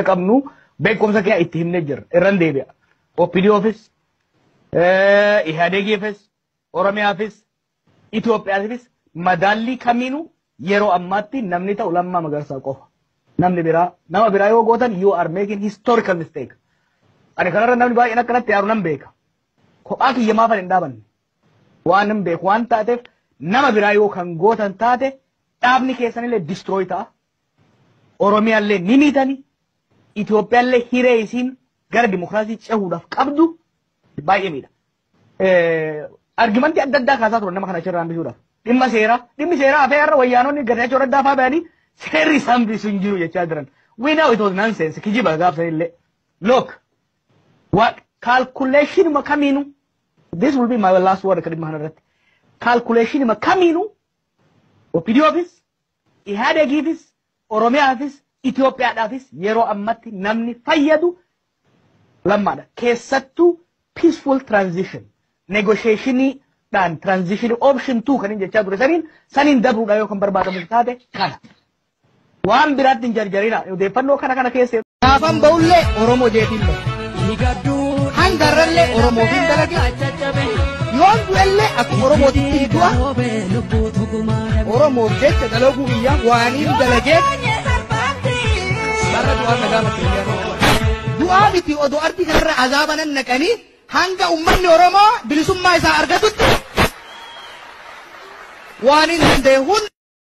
qabnu beekumsa kee itti himnee jirra. Irran deebi'a. OPDOfis, Ihaadegiifis, Oromiyaafis, Itoophiyaafis madaallii kamiinuu yeroo ammaatti namni ta'u lammaa magarsaa qofa. Namni biraa nama biraa yoo gootan you are making historical mistake. Ani kanarra namni baay'een akkanatti yaaru nan beeka. Kophaa kiyya maaf hin dhaabanne. Waan hin beeku waan taateef nama biraa yoo kan gootan taate dhaabni keessanillee destroy ta'a. Oromiyaallee ni miitani. Itoophiyaallee hiree isiin gara dimokiraasii cehuudhaaf qabdu baay'ee miidha. Argimantii adda addaa kaasaa turan nama kana achirraa hambisuudhaaf. Dhimma seeraa. Dhimmi seeraa hafee har'a wayyaanonni gadachoo raddaa faa ba'anii seerri isaan hambisuu hin jiru jechaa jiran. We know it was nonsense. Kijiba gaafsan illee. Look. What? Calculationuma kamiinuu. This will be my last word akka dhimma kanarratti. Calculationuma kamiinuu. Opidioofis Ihaadegiifis, Oromiyaafis, Itoophiyaadhaafis yeroo ammatti namni fayyadu Lammaadha. Keessattuu peaceful transition negotiationii dhaan transition option two kan hin jechaa ture saniin saniin dabruudhaan yoo kan barbaadamu taate kana. Waan biraatti hin jarjarinaa odeeffannoo kana kana keessa Gaafan ba'ullee Oromoo jeetiin ba'e. Hanga irrallee Oromootiin dalage. Yoon du'ellee akkuma Oromootitti hin du'a. Oromoof jecha dalaguu biyyaa waaniin dalagee. Barra du'aa nagaa makkeenyaa. Du'aa miti odoo ardi kanarra azaaba nan naqanii hanga ummanni Oromoo bilisummaa isaa argatutti waaniin danda'e hunda.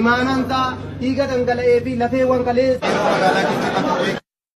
Imaanaan ta'a, dhiiga dhangala'ee fi lafeewwan kaleessa.